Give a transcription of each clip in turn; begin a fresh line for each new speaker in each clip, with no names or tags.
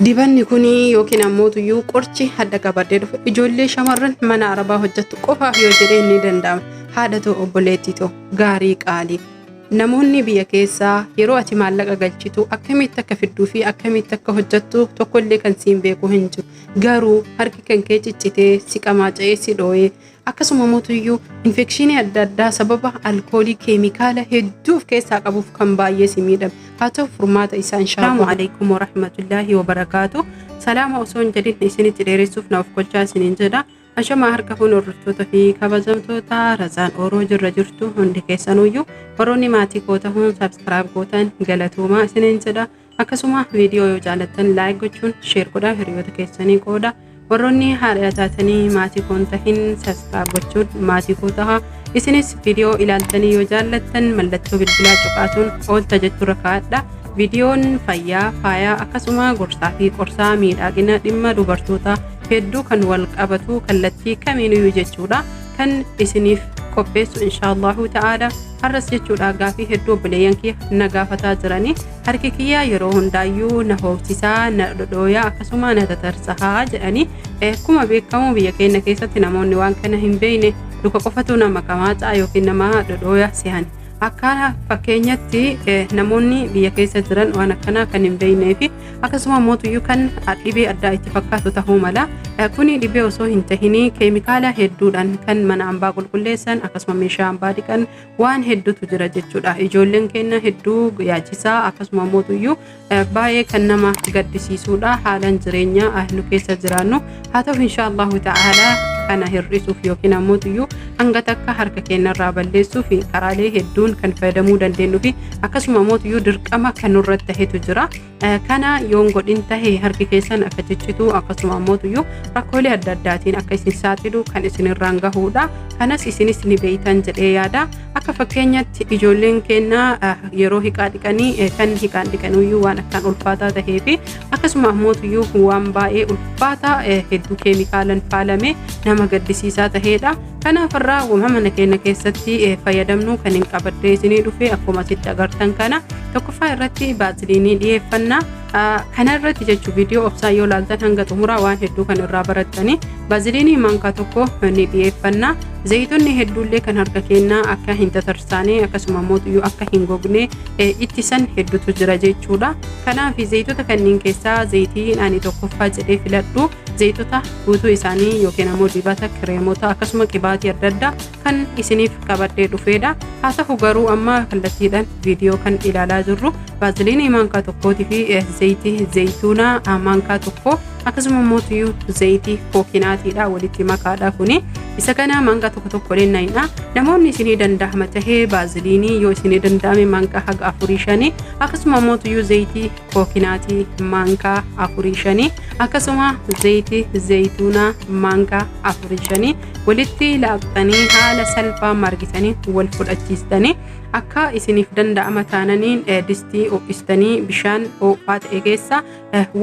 Dibanni kun yookiin ammoo tuyyuu qorchi hadda qabadhee dhufe ijoollee shamarran mana arabaa hojjettu qofaaf yoo jedhee ni danda'ama. Haadha too obboleettii too gaarii qaalii. Namoonni biyya keessaa yeroo ati maallaqa galchitu akkamitti akka fidduu fi akkamitti akka hojjettu tokkollee kan siin beeku hin jiru. Garuu harki kan kee ciccitee si qamaaca'ee si dhooyee akkasuma mootuyyuu infekshinii adda addaa sababa alkoolii keemikaala hedduu of keessaa qabuuf kan baay'ee si miidhame haa ta'u furmaata isaa inshaallah. Salaamu alaikum warahmatullaahi wabarakaatu. Salaama osoo hin jedhin isinitti dheeressuuf na of gochaa isiniin jedha. Ashamaa harka fuun hordoftoota fi kabajamtoota razaan ooroo jirra jirtu hundi keessanuyyuu warroonni maatii koo tahuun saabskiraayib gootan galatoomaa isiniin jedha. Akkasuma viidiyoo yoo jaalattan laayik gochuun sheer godhaa hiriyoota keessanii qooda. Warroonni haadha taatanii maatii koo hin tahin saskiraayib gochuun maatii koo taha. Isinis viidiyoo ilaaltanii yoo jaallattan mallattoo bilbilaa cuqaasuun oolta jechuurra kaa'adha. Viidiyoon fayyaa, faayaa akkasuma gorsaa fi qorsaa miidhagina dhimma dubartootaa hedduu kan wal qabatu kallattii kamiinuu jechuudha kan isiniif qopheessu inshaallahu ta'aala. Har'as jechuudha gaafii hedduu obboleeyyan kiyya na gaafataa jiranii harki kiyyaa yeroo hundaayyuu na hoobsisaa na dhodhooyaa akkasuma na tatarsahaa jedhanii akkuma beekamu biyya keenya keessatti namoonni waan kana hin beekne duka qofatu nama qamaacaa yookiin nama dhodhooya sehan akka fakkeenyatti namoonni biyya keessa jiran waan akkanaa kan hin beeknee fi akkasuma mootuyyuu kan dhibee addaa itti fakkaatu tahuu mala kuni dhibee osoo hin tahinii keemikaala hedduudhaan kan mana ambaa qulqulleessan akkasuma meeshaa ambaa dhiqan waan hedduutu jira jechuudha ijoolleen keenya hedduu yaachisaa akkasuma mootuyyuu baay'ee kan nama gaddisiisuudha haalaan jireenya nu keessa jiraannu haa ta'u insha Allahu ta'ala kana hir'isuuf yookiin ammoo iyyuu hanga takka harka keenyarraa balleessuuf karaalee hedduun kan fayyadamuu dandeenyu fi akkasuma ammoo iyyuu dirqama kan nurratti tahetu jira. Kana yoon godhin tahe harki keessan akka ciccitu akkasuma ammoo iyyuu rakkoolee adda addaatiin akka isin saaxilu kan isinirraan gahuudha. Kanas isinis ni beeytan jedhee yaada. Akka fakkeenyatti ijoolleen keenya yeroo hiqaa dhiqanii kan hiqaan dhiqanuyyuu waan akkaan ulfaataa tahee fi akkasuma ammootuyyuu waan baay'ee ulfaataa hedduu keemikaalan faalame nama gaddisiisaa taheedha kanaaf irraa wama mana keenya keessatti fayyadamnu kan hin qabaddee isinii dhufe akkuma asitti agartan kana tokkoffaa irratti baasiliinii dhiyeeffanna kana irratti jechuun viidiyoo obsaa yoo laaltan hanga xumuraa waan hedduu kan irraa barattanii baasiliinii maankaa tokko ni dhiyeeffanna zayitonni hedduullee kan harka keenyaa akka hin tatarsaane akkasuma mootuyyuu akka hin gogne ittisan heddutu jira jechuudha. Kanaaf zayitota kanneen keessaa zayitiin ani tokkoffaa jedhee filadhu zayitota guutuu isaanii yookiin ammoo dibata kireemota akkasuma qibaatii adda addaa kan isiniif qabadhee dhufeedha. Haa ta'u garuu amma kallattiidhaan viidiyoo kan ilaalaa jirru baaziliinii maankaa tokkootii fi zayitii zayituunaa maankaa tokko akkasuma immoo tuyuu zayitii kookinaatiidha walitti makaadha kuni isa kana manga tokko tokko lennayna namoonni isinii danda'ama tahee baaziliinii yoo isinii danda'ame manga haga afurii shanii akkasuma immoo tuyuu zayitii kookinaatii manga afurii shanii akkasuma zayitii zayituunaa manga afurii shanii walitti laaqxanii haala salphaa margitanii wal fudhachiistanii akka isiniif danda'ama taananiin distii ho'istanii bishaan ho'aa ta'e keessa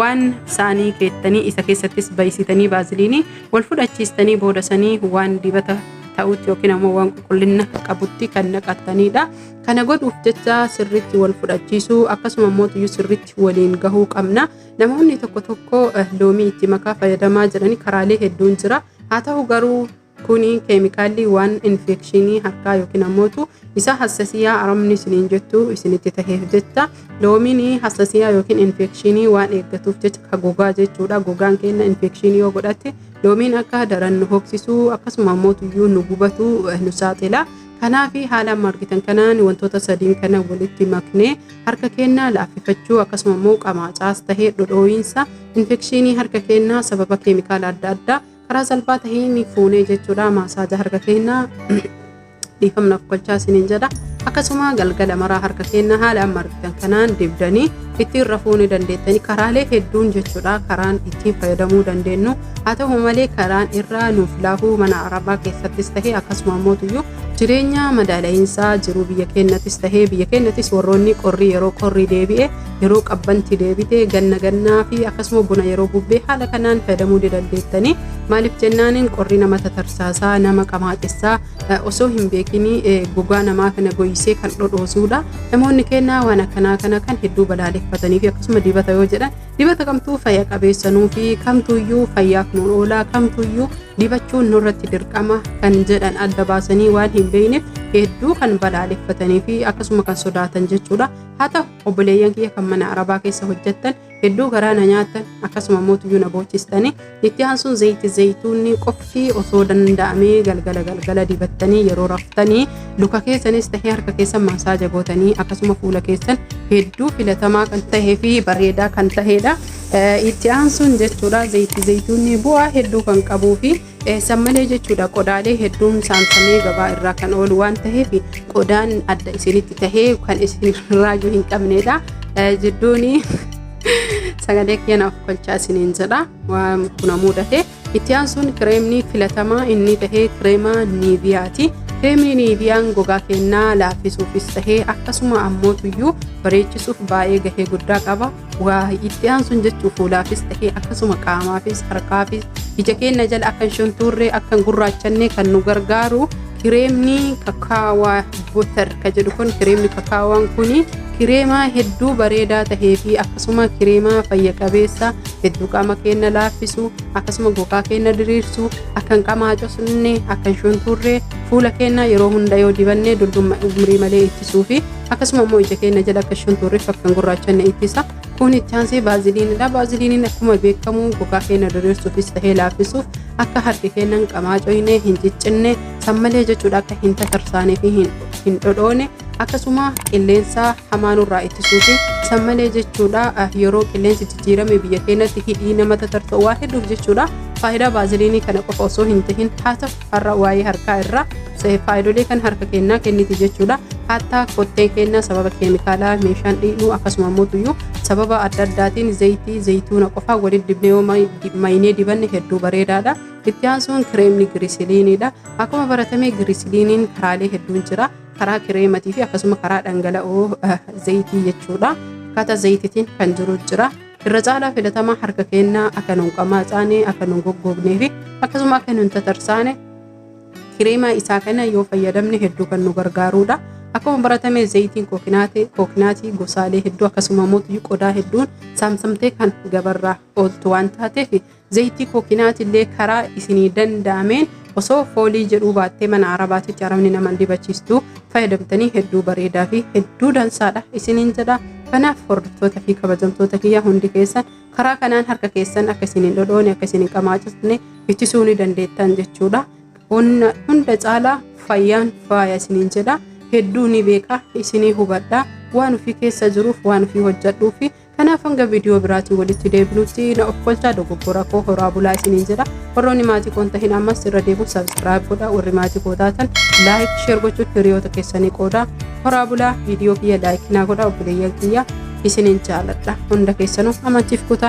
waan saanii keettanii isa keessattis bayisitanii baaziliinii wal fudhachiistanii booda sanii waan dibata ta'utti yookiin ammoo waan qulqullina qabutti kan naqattaniidha. Kana godhuuf jecha sirriitti wal fudhachiisuu akkasuma immoo tuyyuu sirriitti waliin gahuu qabna. Namoonni tokko tokko loomii itti makaa fayyadamaa jiranii karaalee hedduun jira. Haa ta'u garuu Kuni keemikaalli waan infeekshinii harkaa yookiin ammootu isa hassasiyaa aramni isiniin jettu isinitti taheef jecha loomiin hassasiyaa yookiin infeekshinii waan eeggatuuf jecha ka gogaa jechuudha. Gogaan keenya infeekshinii yoo godhate loomiin akka daran nu hoksisuu akkasuma ammootuyyuu nu gubatu nu saaxila. Kanaaf haala amma argitan kanaan wantoota sadiin kana walitti maknee harka keenya laaffifachuu akkasuma immoo qamaacaas tahee dhodhooyinsa infekshinii harka keenyaa sababa keemikaala adda addaa karaa salphaa taheen fuunee jechuudha maasaaja harka keenya dhiifamnaaf gochaa isiniin jedha akkasuma galgala maraa harka keenya haala amma argitan kanaan dibdanii ittiin rafuu ni dandeettanii karaalee hedduun jechuudha karaan ittiin fayyadamuu dandeenyu haa ta'u malee karaan irraa nuuf laafuu mana arabaa keessattis tahee akkasuma mootuyyuu jireenya madaala'iinsaa jiruu biyya keenyattis tahee biyya keenyattis warroonni qorrii yeroo qorrii deebi'e yeroo qabbanti deebite ganna gannaa fi akkasuma bona yeroo bubbee haala kanaan fayyadamuu ni dandeettanii maaliif jennaaniin qorri nama tatarsaasaa nama qamaaxessaa osoo hin beekinii gogaa namaa kana goyisee kan dhodhoosuudha namoonni kennaa waan akkanaa kana kan hedduu balaaleffatanii fi akkasuma dibata yoo jedhan dibata kamtuu fayya qabeessanuu fi kamtuuyyuu fayyaaf nu oolaa kamtuuyyuu dibachuun nurratti dirqama kan jedhan adda baasanii waan hin beekneef hedduu kan balaaleffatanii fi akkasuma kan sodaatan jechuudha haa ta'u obboleeyyan kiyya kan mana arabaa keessa hojjettan hedduu garaa na nyaattan akkasuma mootuyyuu na boochistanii itti aansuun zayitii zayituunni qofti osoo danda'amee galgala galgala dibattanii yeroo raftanii luka keessanis tahee harka keessan masaaja gootanii akkasuma fuula keessan hedduu filatamaa kan tahee fi bareedaa kan taheedha. Itti aansuun jechuudha zayitii zayituunni bu'aa hedduu kan qabuu fi San malee jechuudha qodaalee hedduun saamsamee gabaa irraa kan oolu waan ta'eef qodaan adda isinitti tahee kan isin raajuu hin qabneedha. Jidduun sagalee keenyaaf kolchaa isiniin jedha waan kuna mudate. Itti aansuun kireemni filatamaa inni tahee kireema niiviyaati. Kireemni niiviyaan gogaa keenyaa laaffisuufis tahee akkasuma ammootuyyuu bareechisuuf baay'ee gahee guddaa qaba. waa itti aansuun jechuu fuulaafis ta'ee akkasuma qaamaafis harkaafis ija keenya jala akka hin shuntuurree akka hin gurraachanne kan nu gargaaru kireemni kakaawaa butter ka jedhu kun kireemni kakaawaan kun kireema hedduu bareedaa tahee fi akkasuma kireema fayya qabeessa hedduu qaama keenya laaffisu akkasuma gogaa keenya diriirsu akka hin qamaacofne akka hin shuntuurree fuula keenya yeroo hunda yoo dibanne dullummaa umrii malee ittisuu fi akkasuma immoo ija keenya jala akka shuntuurri fakkan gurraacha na ittisa kun itti aansee baaziliinidha baaziliiniin akkuma beekamu gogaa keenya diriirsuufis ta'ee laaffisuuf akka harki keenya hin qamaacoyne hin ciccinne sammalee jechuudha akka hin tatarsaanee fi hin dhodhoone akkasuma qilleensa hamaa nurraa ittisuu fi sammalee jechuudha yeroo qilleensi jijjiirame biyya keenyatti hidhii nama tatarsa'u waa hedduuf jechuudha faayidaa baaziliinii kana qofa osoo hin tahin haa ta'u har'a waa'ee harkaa irraa se- faayidolee kan harka kennaa kenniti jechuudha hattaa kottee kennaa sababa keemikaalaa meeshaan dhiqnu akkasuma immoo tuyyuu sababa adda addaatiin zayitii zayituuna qofaa walitti dibnee yoo may- di- maynee dibanne hedduu bareedaadha itti aansuun kireemni girisiliiniidha akkuma baratame girisiliiniin karaalee hedduun jira karaa kireematii fi akkasuma karaa dhangala'oo eh, zayitii jechuudha akkaataa zayititiin kan jiru jira irra caalaa filatamaa harka keennaa akka nun qamaacaane akka nun goggognee fi akkasuma akka nun tatarsaane kireemaa isaa kana yoo fayyadamne hedduu kan nu gargaaruudha. Akkuma baratame zayitiin kookinaatee kookinaatii gosaalee hedduu akkasuma mootii qodaa hedduun saamsamtee kan gabarraa ooltu waan taateef Zayitii kookinaatiillee karaa isinii danda'ameen osoo foolii jedhuu baattee mana arabaatitti arabni naman dibachiistu fayyadamtanii hedduu bareedaa fi hedduu dansaadha isiniin jedha. Kanaaf hordoftoota fi kabajamtoota kiyya hundi keessan karaa kanaan harka keessan akka isin hin dhodhoone akka isin hin qamaachisne ittisuu ni dandeettan jechuudha. Hunda hunda caalaa fayyaan faaya isiniin jedha. Hedduu ni beeka isinii hubadha. Waan ofii keessa jiruuf waan ofii hojjedhuu fi Kanaaf hanga viidiyoo biraatiin walitti deebinutti na ofkolchaa dogoggora koo horaa bulaa isiniin jedha. Warroonni maatii koon tahin ammas irra deebiin sabskiraayib godha. Warri maatii koo taatan laayik sheer gochuun hiriyoota keessanii qooda. Horaa bulaa viidiyoo kiyya laayik naa godha obboleeyyan kiyya isiniin jaaladha. Hunda keessanuu amantiif kutaa.